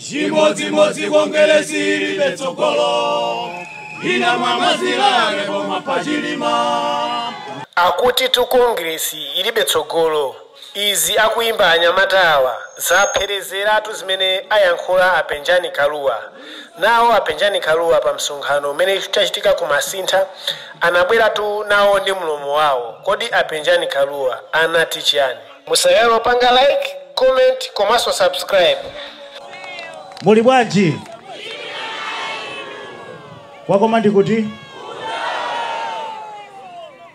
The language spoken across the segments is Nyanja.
chimodzimodzi kongeresi ilibe tsogolo ina mwamazilale koma pa Chilima akutitu kongresi ilibe tsogolo izi akuyimba anyamata awa zapherezeratu zimene ayankhula apenjani kaluwa nawo apenjani kaluwa pa msonkhano umene unachitika ku masintha anabweratu nawo ndi mlomo wawo kodi apenjani kaluwa anati chiyani Musaiwale kupanga like, comment komanso subscribe. Muli bwanji? Kwakoma ndi kuti?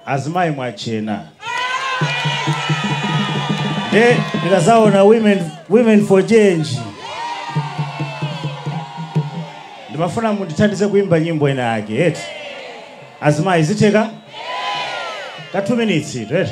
Azimayi mwatchena. Nde ndikazaona women, women for change. Ndimafuna mundithandize kuimba nyimbo ina yake, eti? Azimayi zitheka? Ka 2 minutes, eti?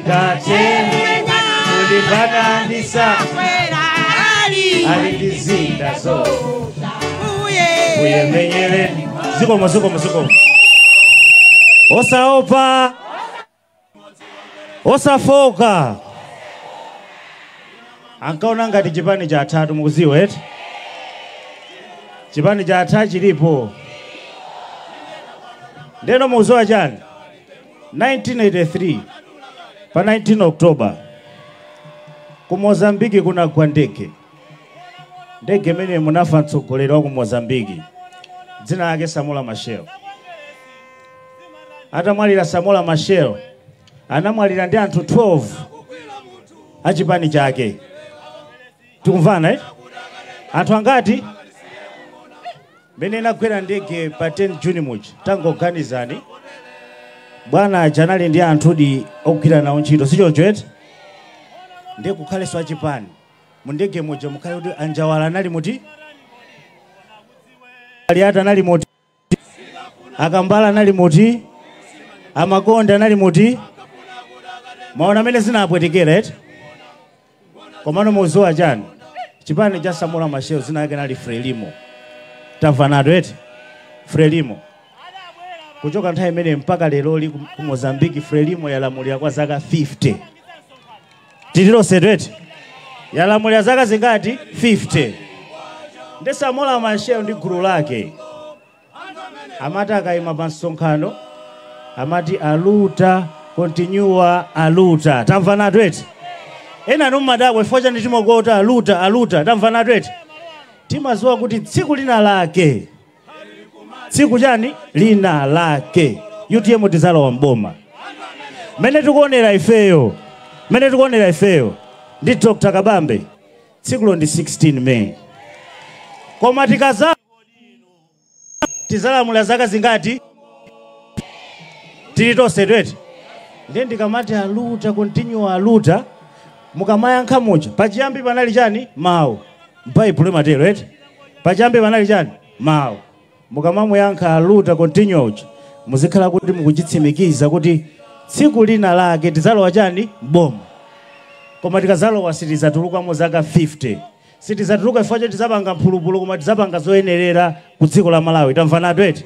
atateni kulimbana ndi sakwe ali ndi zida Ambuye menyereni zikomo zikomo zikomo osaopa osafooka ankaona ngati chipani cha atatu mukuziwa eti chipani cha atatu chilipo ndeno mukuziwa chani 1983 pa 19 October ku Mozambique kunagwa ndege. Ndege imene munafa mtsogoleri wa ku Mozambique dzina lake Samora Machel. Atamwalira Samora Machel anamwalira ndi anthu 12 a chipani chake. Tikumvana eh? Anthu angati? Mmene inagwera ndege pa 10 June muja, tangoganizani, bwana aja anali ndi anthudi ogwira nawo ntchito, sichoncho eti? Ndiye kukhalenso achipani mu ndege muja mukhale kuti anjawala anali muti, aliati anali muti, akambala anali muti, amakonda anali muti, mwaona mmene zinapwetekera eti? Komano muziwa chani chipani cha Samora Machel zina lake linali Frelimo tamvanatu eti Frelimo kuchoka nthawi imene mpaka leroli ku Mozambique Frelimo yalamulira kwa zaka 50 tili tonsetu eti yalamulira zaka zingati 50 ndi Samora Machel ndi gulu lake Amati akaima pa msonkhano amati aluta continua aluta, tamvanatu eti. Ena anu mumadabwa chifukwa chani timangoti aluta aluta, tamvanatu eti. Timadziwa kuti tsiku lina lake, tsiku chani lina lake UTM tidzalowa mboma. Mmene tikuonera ifeyo, mmene tikuonera ifeyo ndi Dr. Kabambe, tsikulo ndi 16 May, koma tikaza tizalamula zaka zingati tili tonsetu eti ndiye ndikamati aluta continua aluta mukamayankha muja pachiyambi panali chani mawu baibulo imatero eti pachiyambi panali chani mawu mukamamuyankha aluta continua uja muzikhala kuti mukuchitsimikiza kuti tsiku lina lake tizalowa chani m'boma koma tikazalowa sitizatulukamo zaka 50 Sitidzatuluka chifukwa choti tidzapanga mphulupulu koma tidzapanga zoyenerera ku dziko la Malawi. Tamvanatu eti?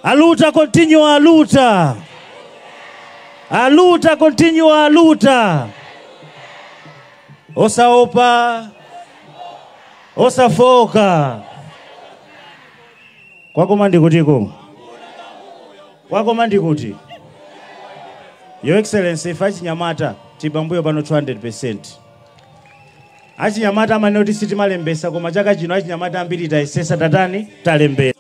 Aluta continua aluta. Aluta continua aluta. Osaopa. Osafooka. Kwakoma ndi kutiko. Kwakoma ndi kuti. Your Excellency, ife achinyamata tili pambuyo panu 200%. Achinyamata amanena kuti sitimalembesa koma chaka chino achinyamata ambiri tayesesa tatani talembesa.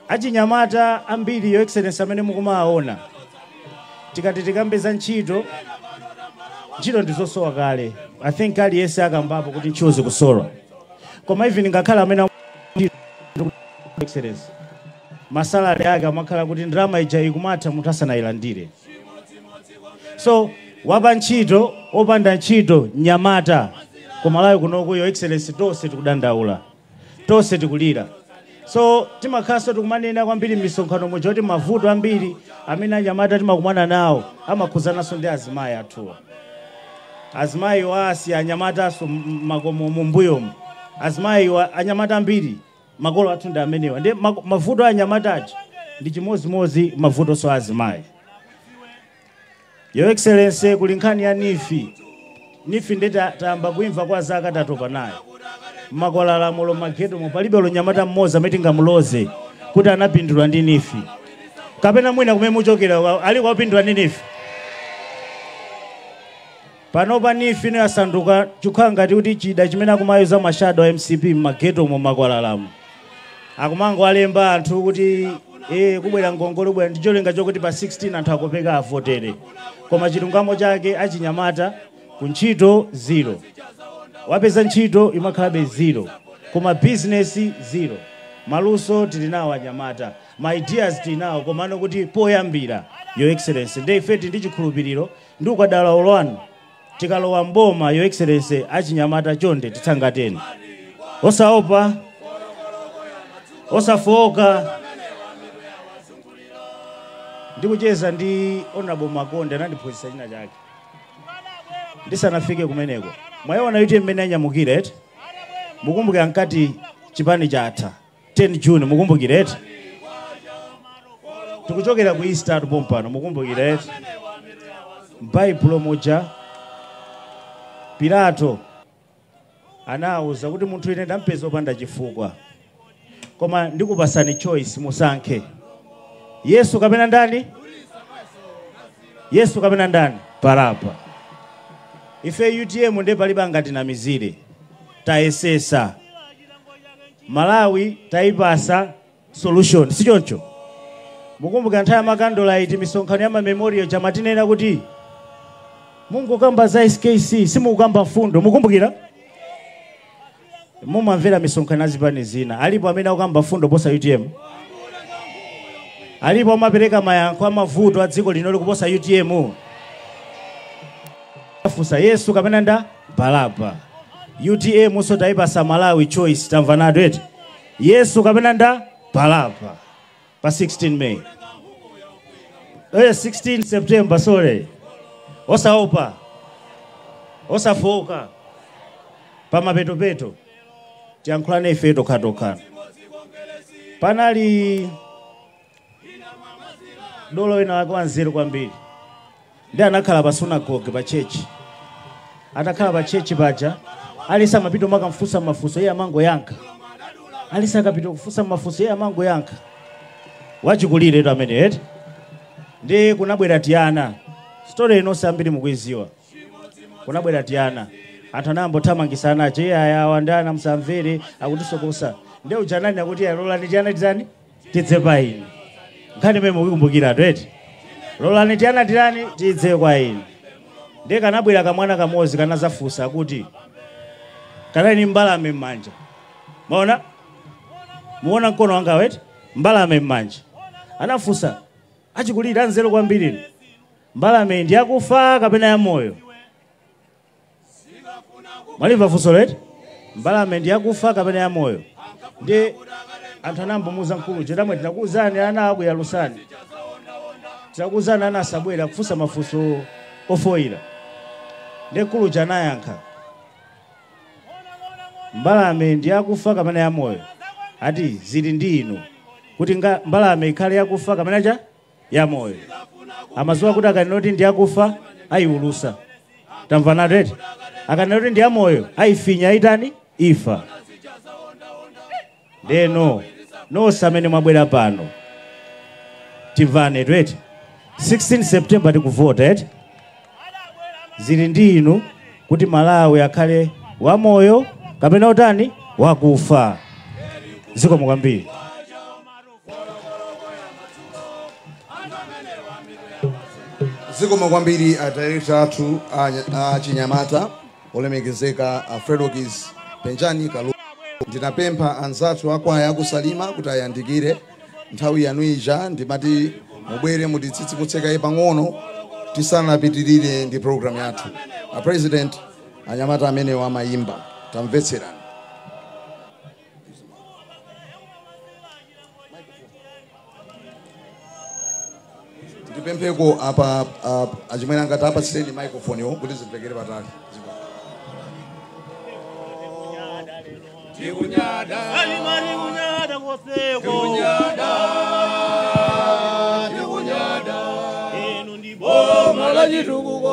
Achinyamata ambiri your excellency amene mukumawaona tikati tikambe za ntchito ntchito ndizosowa kale i think aliyense akambapo kuti ntchito zikusowa koma even ngakhale amene am- Your excellency masalari ake amakhala kuti ndalama ija ikumatha munthu asanayilandire so wapa ntchito opanda ntchito mnyamata kumalawi kunoko your excellency tonse tikudandaula tonse tikulira so timakhalanso tikumanena kwambiri m'misonkhano muja kuti mavuto ambiri amene anyamata timakumana nawo amakhuzananso ndi azimayi athuwa azimayiwa asiya anyamatanso m'makomo mumbuyomu azimayiwa anyamata ambiri makolo athu ndi amenewa ndiye mak- mavuto a anyamata aja ndi chimodzimodzi mavutonso a azimayi your excellency kuli nkhani ya NEEF NEEF ndi ta- tayamba kuimva kwa zaka tatopa nayo mmakwalalamu olo mmaghettomu palibe olo mnyamata mmodzi amene tingamuloze kuti anapindula ndi NEEF kapena mwina kumene muchokera wa- aliko wapindula ndi NEEF Panopa neef ino yasanduka chikukhala ngati kuti chida chimene akumayuza ma shadow a mcp mma ghetto mu makwalalamu. Akumangowalemba anthu kuti ee kukubwera ngongole kukubwera ndi cholinga chokuti pa 16 anthu akopeka avotere. Koma chilungamo chake achinyamata ku ntchito zero. Wapeza ntchito imakhalabe zero. Koma business zero. Maluso tili nawo anyamata. Ma ideas tili nawo komano kuti poyambira your excellency. Ndiye ife tili ndi chikhulupiriro Ndi ukadaulo wanu tikalowa m'boma your excellency achinyamata chonde titsangalatseni. Osaopa, osafooka. Ndikucheza ndi Hon. Makonde anandiphunzitsa china chake ndisanafike kumeneko. Mwaiona utm mmene yanyamukira eti? Mukumbukira ankati chipani chatha. 10 june mukumbukira eti tikuchokera ku easter atu pompano mukumbukira eti m'baibulo muja pilato anawauza kuti munthu ine ndampeza opanda chifukwa koma ndikupatsani choice musankhe yesu kapena ndani yesu kapena ndani baraba ife utm nde palibe angatinamizire tayesetsa Malawi taipatsa solution sichoncho? Mukumbukira nthawi ya makandolite misonkhano ya mamemorial ija amatinena kuti mungokamba za SKC simukukamba mfundo. Mukumbukira? Mumamvera misonkhano ya zipani zina. Alipo amene akukamba mfundo posa UTM. Alipo amapereka mayankho a mavuto a dziko lino likuposa UTM. Afunsa Yesu kapena nda Baraba. Utm nso taipatsa Malawi choice tamvanatu eti. Yesu kapena nda Baraba. Pa 16 May. Eh 16 September sorry. Osaopa. Osafooka. Pa mapetopeto. Tiyankhulane ife tokhatokha. Panali dolo wina wake wanzeru kwambiri nde anakhala pa sunagoge pa chechi atakhala pa chechi paja aliyense amapita kumakamfunsa mafunso iye amangoyankha aliyense akapita kufunsa mafunso iye amangoyankha wachikulire tu amene eti nde kunabwera tiana sitole ino nonse ambiri mukuidziwa kunabwera tiana anthu anayamba kuthamangitsa ana aja iye awa ndi ana musamvere akutisokosa nde ujeni akuti lolani tiana titani tidze kwa inu nkhani imene mukuyikumbukira eti lolani tiana titani tidze kwa inu ndiye kanabwera kamwana kamodzi kanazafunsa kuti kanali ni mbalame m'manja maona muona mkono wanga eti mbalame m'manja anafunsa achikulira anzeru kwambiri inu mbalameyi ndi yakufa kapena yamoyo mwalimva funsolo eti mbalame ndi yakufa kapena yamoyo nde anthu anamuuza mkulu uja tamwe tinakuwuzani anawa akuyalutsani tinakuwuzani ana asabwere akufunsa mafunso ofoyira nde mkulu uja anayankha mbalame ndi yakufa kapena yamoyo ati zili ndi inu kuti nga- mbalame ikhale yakufa kapena chani ya moyo amaziwa kuti akanena kuti ndi yakufa ayiwulutsa tamvanatu eti akanena kuti ndi yamoyo ayifinya itani ife ndeno nonse amene mwabwera pano timvanetu eti 16 september tikuvota eti zili ndi inu kuti malawi akhale wamoyo kapena otani wakufa zikomo kwambiri zikomo kwambiri adirekta athu a- a chinyamata olemekezeka a fredokis penjani kalua ndinapempha anzathu akwaya akusalima kuti ayandikire nthawi yanu ija ndimati mubwere mutitsitsimutse kaye pang'ono tisanapitirire ndi program yathu a president anyamata amenewa amayimba tamvetserani ndipempheko apa apa- achimwene angati tapatseni microphone yo kuti zimvekere patali tikunyada alimali kunyada koseko tikunyada tikunyada inu ndi boma la chitukuko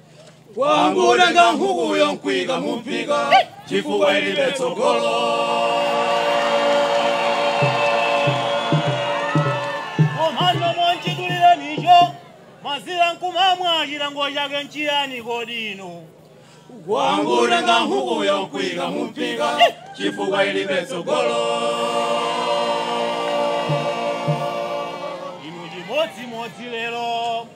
kwangu utenga nkhukuyo nkuika mumphika chifukwa ilibe tsogolo komano monchitulirenicho mazira nkumamwa chilango chake nchiyani kodi inu kwangu nkutenga nkhukuyo nkuika mumphika chifukwa ilibe tsogolo inu chimodzimodzi lero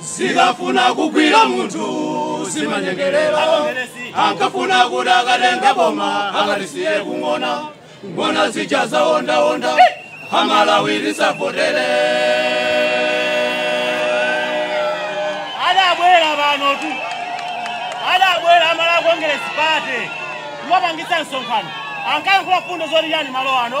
zikafuna kugwira munthu zimanyengerera ankafuna kuti akatenga boma akalisiye ku ng'ona ng'ona zija zaondaonda amalawi musavotere adabwera panotu adabwera a malawi kongeresi pate kumapangitsa msonkhano ankayankhula fundo zonyoza malo ano